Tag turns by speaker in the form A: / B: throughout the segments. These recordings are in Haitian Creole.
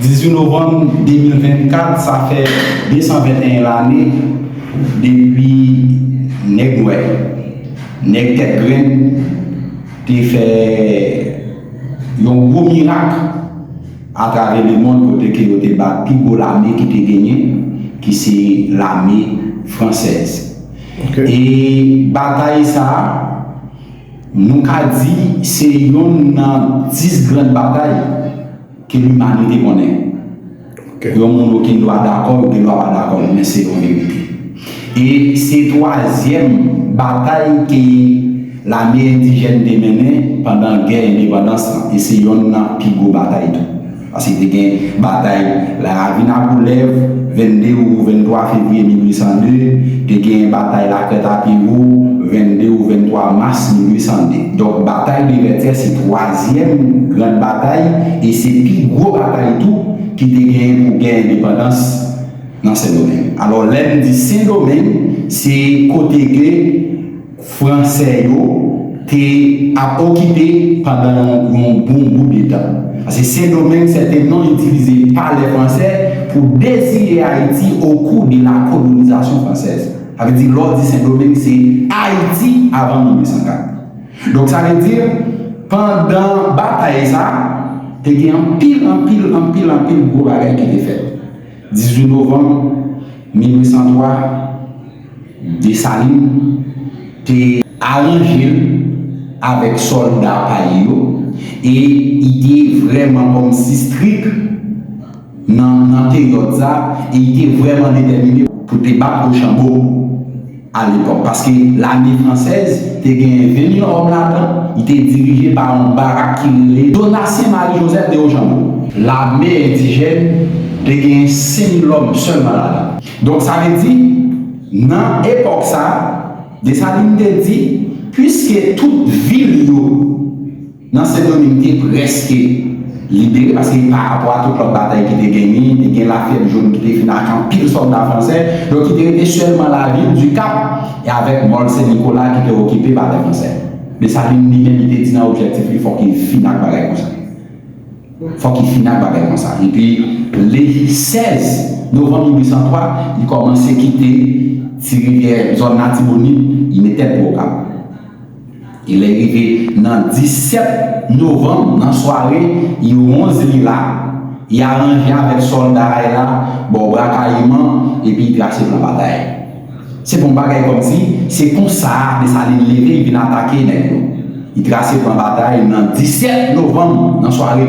A: 18 novanm 2024 sa fè 221 lane depi nèg nwè, nèg tèt grenn te fè yon gwo mirak atravè lemonn kote ke yo te bat pi gwo lame ki te genyen ki se lame fransèz. E batay sa a nou ka di se yonn nan 10 gran batay. Ke limanite konnen, yon moun oken dwa dakò, yo gen dwa pa dakò, men se yon verite. E se twazyèm batay ke lame endijèn te mennen pandan gè endepandans lan. E se yonn nan pi gwo batay tou. Paske te gen batay Laravinakoulèv, 22 ou 23 fevriye 1802, te gen batay Lakrètapyewo, 22 ou 23 mas 1802. Donk batay de Vètyè se twa. Twazyèm gran batay, e se pi gwo batay tou, ki te genyen pou gè endepandans nan Sendomeng. Alò, lè n di Sendomeng, se kote ke Franse yo te ap okipe pandan yon bon bout de tan. Paske Sendomeng, sè te non itilize pa lè Franse pou deziye Ayiti o kou de la kolonizasyon fransèz. Sa vle di, lè w di Sendomeng, se Ayiti avan 1804. Donk sa vle di, pandan batay sa, te gen anpil, anpil, anpil, anpil gwo bagay ki te fèt. 18 novanm 1803, Desalin te aranje l avèk sòlda pa li yo e ide vrèman kòm sistrik. nan peryòd sa e li te vrèman detèmine pou te bat Rochambeau a lepòk paske lame fransèz te genyen 20 mil òm ladan, li te dirije pa yon barak ki rele Donatien Marie Joseph de Rochambeau. Lame endijèn te genyen 5 mil òm sèlman ladan. Donk sa vle di nan epòk sa Dessalines te di piske tout vil yo. Nan Sendoming te prèske libere paske pa rapò a tout lòt batay ki te genyen, te gen lafyèb jòn ki te fin ak anpil sòlda fransè, donk ki te rete sèlman lavil Dikap e avèk Mòl Sen Nikola ki te okipe pa lè fransè. Desalin li menm li te di nan objèktif li fòk li fin ak bagay konsa. Fòk li fin ak bagay konsa. Epi le 16 novanm 1803 li kòmanse kite Ti Rivyè, zòn Latibonit, li met tèt pou Okap. Lè rive nan 17 novanm nan sware yo 11 li la, y aranje avèk sòlda a y la bò Bwa Kayiman epi y trase plan batay. Se bon bagay kòmsi se konsa Desalin leve y vin atake nèg yo. Y trase plan batay nan 17 novanm nan sware.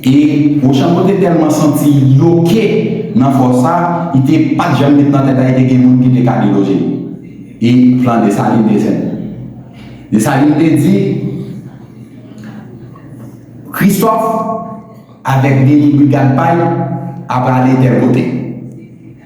A: E Rochambeau te tèlman santi li oke nan fò sa, li te pa t janm met nan tèt Ayiti gen moun ki te ka deloje li. E plan Dessalines te senp. Dessalines te di, Christophe avèk demi brigad pa l aprale tèl kote.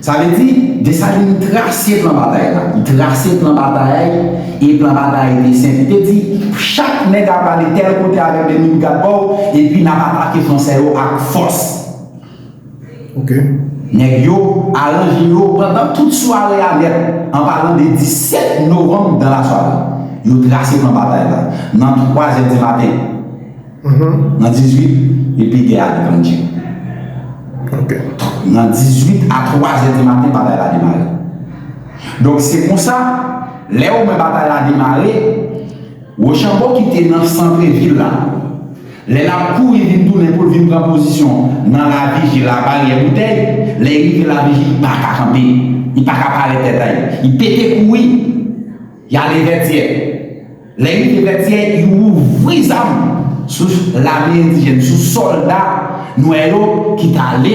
A: Sa vle di, Desalin trase plan batay la. Li trase plan batay, e plan batay te senp. Li te di, Chak nèg ap ale tèl kote avèk 2000 brigad pa w, epi n ap atake Fransè yo ak fòs.
B: Ok. Nèg
A: yo aranje yo pandan tout sware a nèt, an palan de 17 novanm dan lasware. Yo trase plan batay la, nan 3 zè di maten. Nan 18, li pi gè ak Angie.
B: Nan
A: 18 a 3 zè di maten batay la demare. Donk se konsa, lè ou wè batay la demare, Wochanbo ki te nan santre vil la, lè l ap kouri vin tounen pou l vin pran pozisyon nan Laviji, Labaryè Boutèy, lè li rive Laviji, li pa ka kanpe, li pa ka pale tèt a li. Li pete kouri. Y ale Vètyè. Lè y rive Vètyè, y ouvri zam sou lame endijèn, sou sòlda nwè yo ki t ale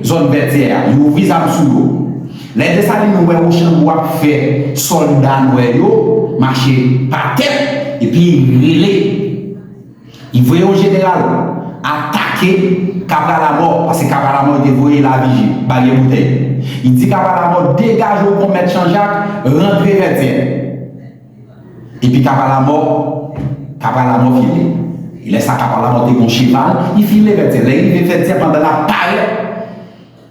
A: zòn Vètyè a. Y ouvri zam sou yo. Lè Desalin wè Wochanbo ap fè sòlda nwè yo mache pa tèt epi y rele. Li voye yon jeneral atake Cabral Amò, paske Cabral Amò te voye Lavije bay yon boutèy. Li di Cabral Amò, degaje w konmèt Janjak, rantre Vètyè. Epi Cabral Amò, Cabral Amò file. E lè sa Cabral Amò te gen yon cheval, li file Vètyè. Lè li rive Vètyè pandan l ap parèt.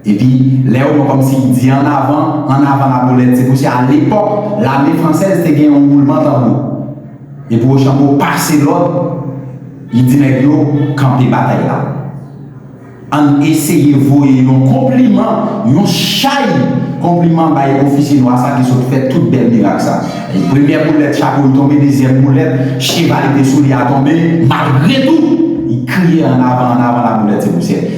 A: Epi, lè yo wè kòmsi ki di an avan, an avan lapolèt, se kousi a lepòk, lame fransèz te gen yon woulman tanbou. Epi Wochanbo pase lòd, li di nèg yo, kanpe batay la. Ann eseye voye yon konpliman, yon chay konpliman bay ofisye nwa sa ki sot fè tout bèl mirak sa. Premyè boulèt, chapo li tonbe, dezyèm boulèt, cheval li te sou li a tonbe, malgre tou, li kriye an avan, an avan lapolèt, se pousyè.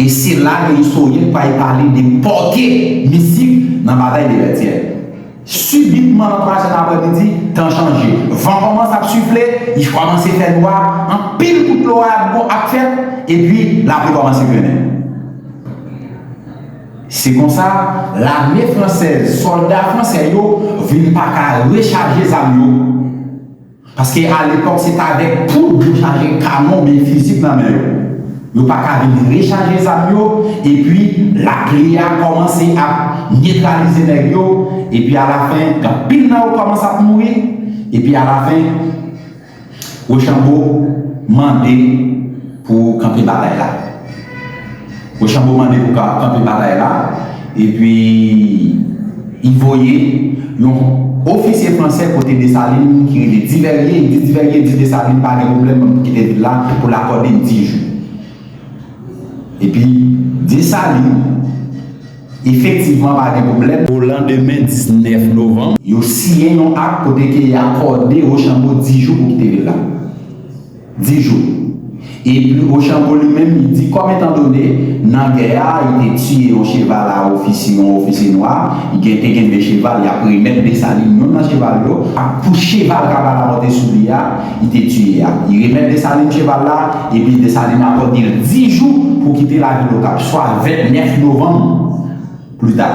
A: E se la ke istoryen pral pale de pòte misik nan Batay de Vètyè. Sibitman nan twa zè nan aprèmidi, tan chanje. Van kòmanse ap sifle, li kòmanse fè nwa, anpil kout loray ap bon ap fèt, epi lapli kòmanse grennen. Se konsa, lame fransèz, sòlda fransè yo vin pa ka rechaje zam yo. Paske a lepòk se t avèk poud yo chaje kanon byen fizik nan men yo. Yo pa ka vin rechaje zam yo epi lapli a kòmanse ap netralize nèg yo epi alafen anpil nan yo kòmanse ap mouri epi alafen Rochambeau mande Pou kanpe batay la. Rochambeau mande pou ka kanpe batay la epi li voye yon ofisye fransè kote Dessalines ki rele Diverye, li di Diverye di Dessalines pa gen pwoblèm pou kite vil la pou l akòde l di jou. Epi Dessalines efektivman pa gen pwoblèm. O landemen 19 novanm. Yo siyen yon ak kote ke y akòde Rochambeau di jou pou kite vil la. 10 jou. E pi Rochambeau li menm li di kòm etan done nan gè a yo te tiye yon cheval a ofisye yon ofisye nwa gen te genbe cheval y ap remèt Desalin youn nan cheval yo ak pou cheval kaba la monte sou li a li te tiye a li remèt Desalin cheval la e pi Desalin akòde l 10 jou pou kite lavil Okap swa 29 novanm pli ta.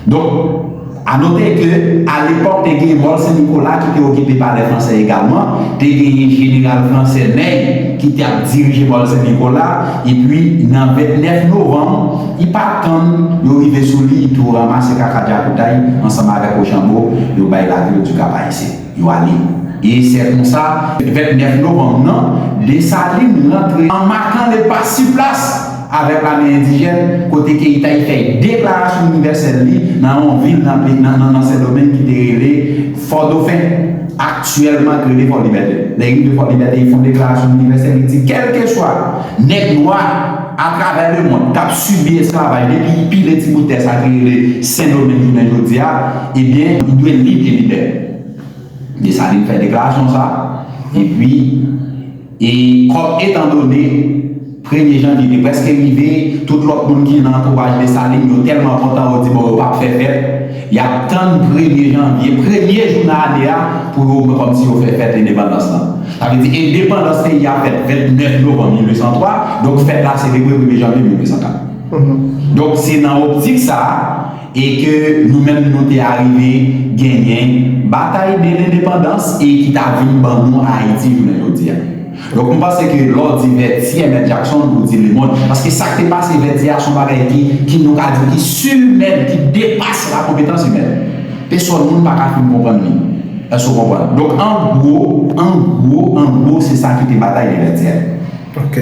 A: Donk, a note ke a lepòk te gen Mòl Sen Nikola ki te okipe pa lè Fransè egalman, te genyen Jeneral Fransè Ney ki te ap dirije Mòl Sen Nikola, epi nan 29 novanm, li pa tann yo rive sou li, li tou ranmase kaka dyakoutay ansanm avèk Ochanbo, yo bay lavi yo Dikapayisyen. Yo ale. E sè konsa, 29 novanm nan, Desalin rantre an makan le pa si plas avèk lame endijèn kote Keytay fè deklarasyon inivèsèl li nan yon vil nan peyi nan Sendomeng ki te rele Fòdofen, aktyèlman ki rele Fòlibète. Lè rive Fòlibète, li fon deklarasyon inivèsèl, li di kèlkeswa nèg nwa. atravè lemond k ap sibi esklavaj depi pi redi bout tè sa ki rele Sendomeng jounen jodi a, ebyen nou dwe lib e libè. Desalin fè deklarasyon sa a, epi, e kòm etandone premye janvye te prèske rive, tout lòt moun ki nan antouwaj Desalin yo tèlman kontan yo di bon yo p ap fè fèt, Y ap tann premye janvye, premye jou nan ane a, pou yo wè kòmsi yo fè fèt endepandans lan. Sa vle di endepandans peyi a fèt 29 novanm 1803, donk fèt la selebre premye janvye 1804. Donk se nan optik sa a e ke nou menm nou te arive genyen Batay de Lendepandans e ki ta vin ban nou Ayiti jounen jodi a. Donk nou panse ke lè w di Vètyè mèt Jakson ou di Lemond. Paske sa k te pase Vètyè a se yon bagay ki, ki nou ka di ki silimèn, ki depase la konpetans imèn. Pesòn moun pa ka fin konprann li. Èske ou konprann? Donk an gwo, an gwo, an gwo se sa ki te batay de Vètyè. Ok.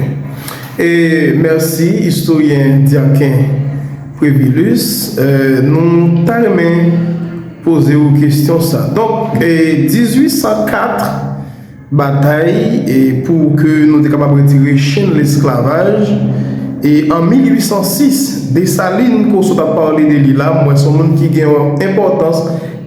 B: E mèsi istoryen Diaken Previlus. Nou ta renmen poze ou kestyon sa. Donk 1804. Batay pou ke nou te kapab retire chenn lesklavaj. E an 1806, Desalin ke w sot ap pale de li la, m wè se yon moun ki gen yon enpòtans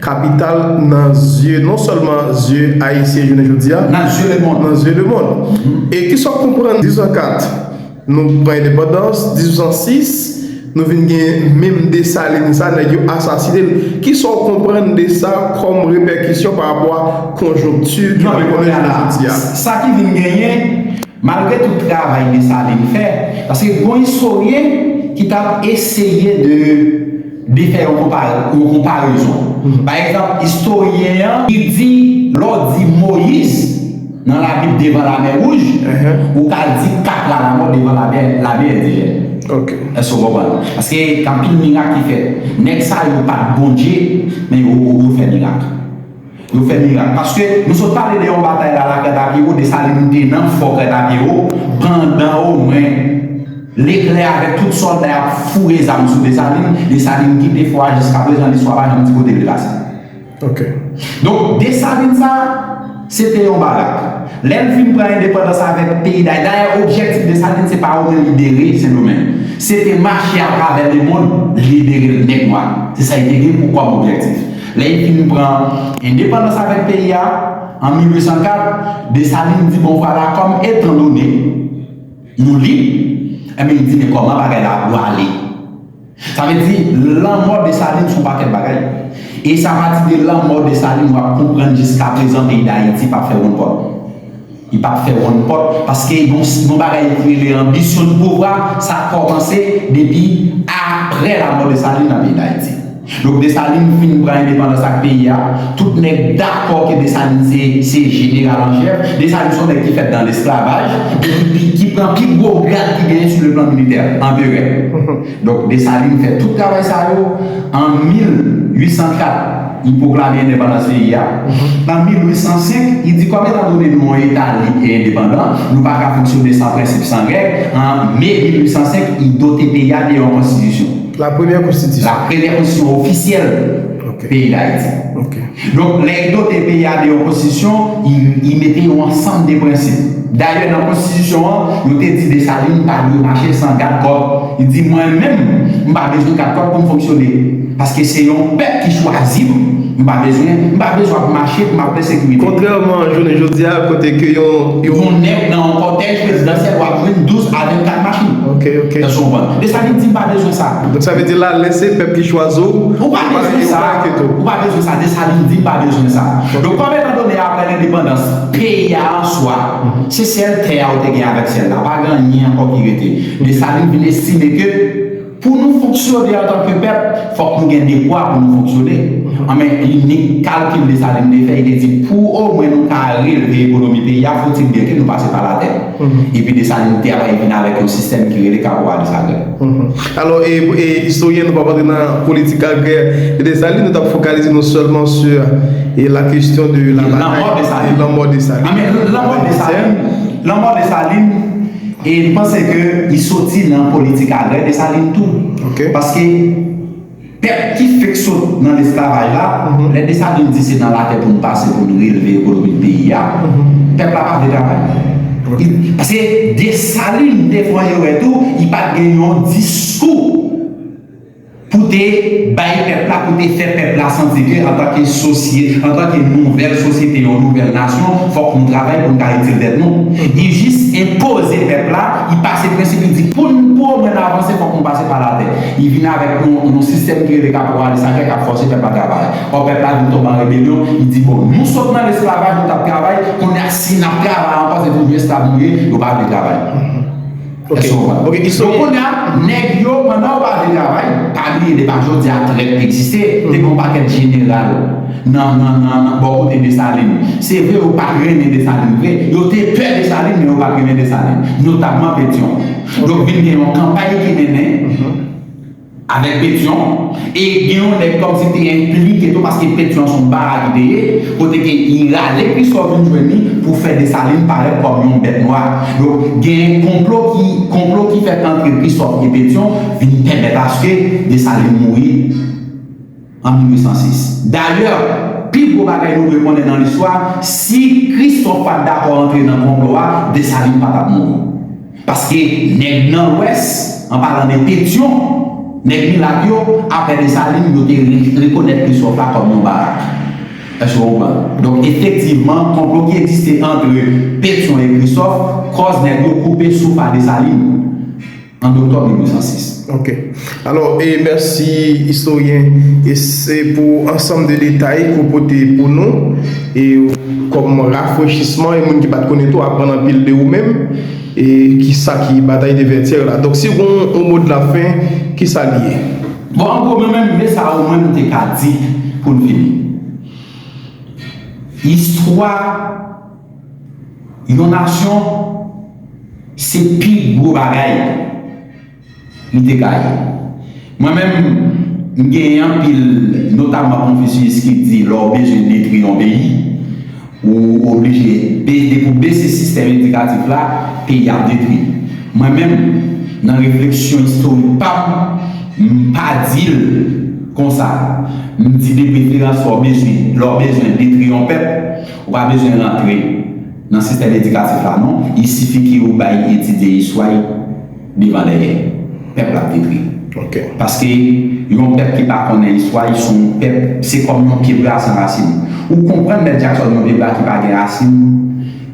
B: kapital nan zye, non sèlman zye Ayisyen jounen jodi a. Nan zye lemond. Nan zye
A: lemond.
B: E kisa w konprann 1804? Nou pran endepandans 1806 nou vin gen menm Desalin sa nèg yo asasine l. Kisa w konprann de sa kòm repèkisyon pa rapò a konjonkti ki nan ekonomi jounen jodi
A: a? Sa ki vin genyen, malgre tout travay Desalin fè, paske gon istoryen ki t ap eseye de. De fè yon konparezon. Pa egzanp, istoryen an. Li di, lè w di Moyiz nan Labib devan Lamè Wouj, ou ka di kat la lanmò devan Lamè Endijèn. Èske w
B: konprann?
A: Paske gen anpil mirak ki fèt. Nèg sa yo pa t Bondye, men yo fè mirak. Yo fè mirak paske nou sot pale de yon batay la la Crètapiewo Desalin nou te nan fò Crètapiewo pandan o mwen Leklè avèk tout sòlda y ap foure zam sou Desalin, Desalin kite fò a jiska prezan listwa pa janm di kote li pase.
B: Donk
A: Desalin sa se te yon barak lè l fin pran endepandans avèk peyi Dayiti dayè objektif Desalin se pa o mwen libere Sendomeng se te mache atravè lemond libere nèg nwa se sa li te gen pou kòm objektif. Lè epi nou pran endepandans avèk peyi a, an 1804, Desalin di bon vwala kòm etan done nou lib, enben li di men kòman bagay la ap dwale. Sa vle di lanmò Desalin son pakèt bagay. E se apati de lanmò Desalin wap konprann jiskaprezan peyi Dayiti pap fè wonn kòb. Li pa t fè wonn pòt, paske yon bagay ki rele anbisyon di pouvwa, sa kòmanse depi apre lamò Desalin nan peyi Dayiti. Donk Desalin fin pran endepandans ak peyi a, tout nèg dakò ke Desalin se jeneral an chèf, Desalin se yon nèg ki fèt dan lesklavaj, e ki pran pi gwo grad ki genyen sou le plan militè, anperè. Donk Desalin fè tout travay sa yo, an 1804 li pwoklame endepandans peyi a, an 1805 li di kòm etan done nou yon eta lib e endepandan, nou pa ka fonksyone san prensip, san règ, an me 1805 li dote peyi a de yon konstitisyon. La premyè konstitisyon.
B: La premyè konstitisyon
A: ofisyèl. peyi dayiti. Donk lè li dote peyi a de yon konstitisyon, li mete yon ansanm de prensip. Dayè nan konstitisyon an, yo te di Desalin pa dwe mache san gad kòt. Li di mwen menm, m pa bezwen gad kòt pou m fonksyone. Paske se yon pèp ki chwazi m, m pa bezwen, m pa bezwen ap mache pou m ap fè sekirite. Kontrèman a jounen jodi
B: a kote ke yon. Yon nèg
A: nan yon kòtèj prezidansyèl wap jwenn 12 a 24 machin. Èske w konprann?
B: Desalin di
A: m pa bezwen sa. Donk sa vle di la lè se
B: pèp ki chwazi w, ou pa bezwen
A: sa, ou pa bezwen sa, Desalin di pa bezwen sa. Donk kòm etan done aprè lendepandans peyi a an swa, se sèl tè a ou te gen avèk syèl la, pa gen anyen ankò ki rete. Desalin vin estime ke pou nou fonksyone antanke pèp, fòk nou gen dekwa pou nou fonksyone. Anben, inik kalkil Desalin te fè, li te di pou omwen nou ka relve ekonomi peyi a, fouti byen ke nou pase pa latè. Epi Desalin te ap revin avèk yon sistèm ki rele Caporal Dessalines. Alò, e
B: istoryen nou pa prantre nan politik agrè e Desalin, nou ta fokalize nou sèlman su la kestyon de la batay, lanmò Desalin. Lanmò Desalin,
A: lanmò Desalin, e mpanse ke li soti nan politik agrè Desalin tou. Ok. Paske. Pèp ki fèk sot nan lesklavaj la, lè Desalin di se nan latè pou n pase pou n relve ekonomi peyi a, pèp la pa vle travay. Paske Desalin te fè yon erè tou, li pa t gen yon diskou pou te bay pèp la, pou te fè pèp la santi ke antanke sosye, antanke nouvèl sosyete, yon nouvèl nasyon, fòk nou travay pou n ka itil tèt nou. Li jis enpoze pèp la, li pase prensip, li di pou n pou omwen n avanse fòk nou pase pa latè. Li vin avèk yon sistèm ki rele kaporalis la, kèk k ap fòse pèp la travay. Ò pèp la vin tonbe an rebelyon, li di bon, nou sot nan lesklavaj nou t ap travay, kounye a si n ap travay ankò se pou vye esklav nou ye, yo pa vle travay. Èske
B: w konprann? Donk
A: kounye a, nèg yo, pandan yo pa vle travay, pa bliye depa jodi a trèt egziste, te gen yon pakèt jeneral nan bò kote Desalin. Se vre yo pa t renmen Desalin vre, yo te pè Desalin men yo pa t renmen Desalin, notamman Petyon. Donk vin gen yon kanpay ki mennen avèk Petion e gen yon nèg kòmsi te enplike tou paske Petion son bara li te ye kote ke li rale Christophe vin jwenn li pou fè Dessalines parèt kòm yon bèt nwa. Donk gen konplo ki konplo ki fèt antre Christophe e Petion vin pèmèt aske Dessalines mouri. an 1806. Dayè, pi gwo bagay nou dwe konnen nan listwa, si Kristòf pa t dakò antre nan konplo a, Desalin pa t ap mouri. Paske nèg nan Lwès, an palan de Petyon, nèg milat yo, apre Desalin, yo te rekonèt Kristòf la kòm yon barak. Èske w konprann? Donk, efektivman, konplo ki egziste antre Petyon e Kristòf kòz nèg yo koupe souf a Desalin. An Oktòb 1806. Ok.
B: Alò, e mèsi istoryen. E se pou ansanm de detay ke w pote pou nou, e kòm rafrechisman, e moun ki pat konnen tou aprann anpil de ou menm, e ki sa ki Bataille de Vertières la. Donk si w gen yon mo de la fin, ki sa li ye? Bon, an gwo, mwen
A: menm, me sa o mwen m te ka di pou n fini. Istwa. Yon nasyon se pi gwo bagay li te ka ye. Mwen menm, m gen anpil, notamman konfisyis ki di lè w bezwen detwi yon peyi, ou oblije, depi w bese sistèm edikatif la, peyi a ap detwi. Mwen menm, nan refleksyon istorik pa m, m pa di l konsa. M di depreferans lè w bezwen detwi yon pèp, Ou pa bezwen rantre nan sistèm edikatif la non, il sifi ke ou bay etidye istwa y devan dèyè. Pèp la ap detri. Paske yon pèp ki pa konnen istwa y son w pèp, se kòm yon pye bra san rasin. Ou konprann Mèt Jackson yon pye bra ki pa gen rasin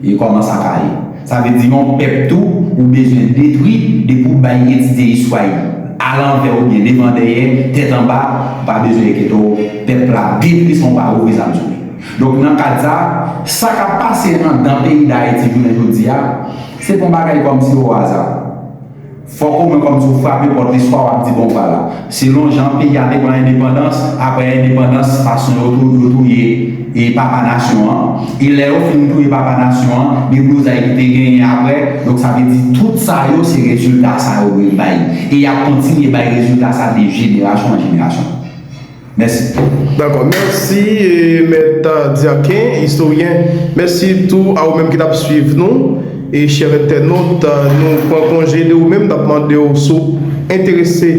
A: e kòman sa ka ye. Sa vle di yon pèp tou ou bezwen detri depi w bay etidye istwa y a lanvè ou byen devan dèyè, tèt anba, ou pa bezwen enkete w, pèp la ap detri san w pa ouvri zam sou li. Donk nan kad sa, sa k ap pase anndan peyi Dayiti jounen jodi a, se pa yon bagay kòmsi o aza. Fòk omwen kòmsi ou frape pòt listwa w ap di bon vwala, selon jan peyi a te pran endepandans, aprè endepandans fason yo yo touye e papa nasyon an, e lè yo fin touye papa nasyon an, deblozay ki te genyen aprè, donk sa vle di tout sa yo se rezilta sa yo yo bay e y ap kontinye bay rezilta sa de jenerasyon an jenerasyon. Mèsi. Dakò,
B: mèsi Mèt Dyaken, Istoryen. Mèsi tou a ou menm ki t ap suiv nou. E chè entènot, nou pran konje de ou menm, n ap mande w si w enterese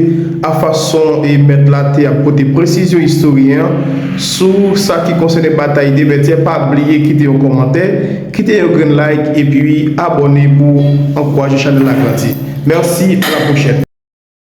B: a fason Mèt la te ap pote presizyon Istoryen an sou sa ki konsène batay de Vètyè. Pa bliye kite yon kòmantè, kite yon grenn like epi abòne pou ankouraje chanèl la grandi. Mèsi, a la pwochèn.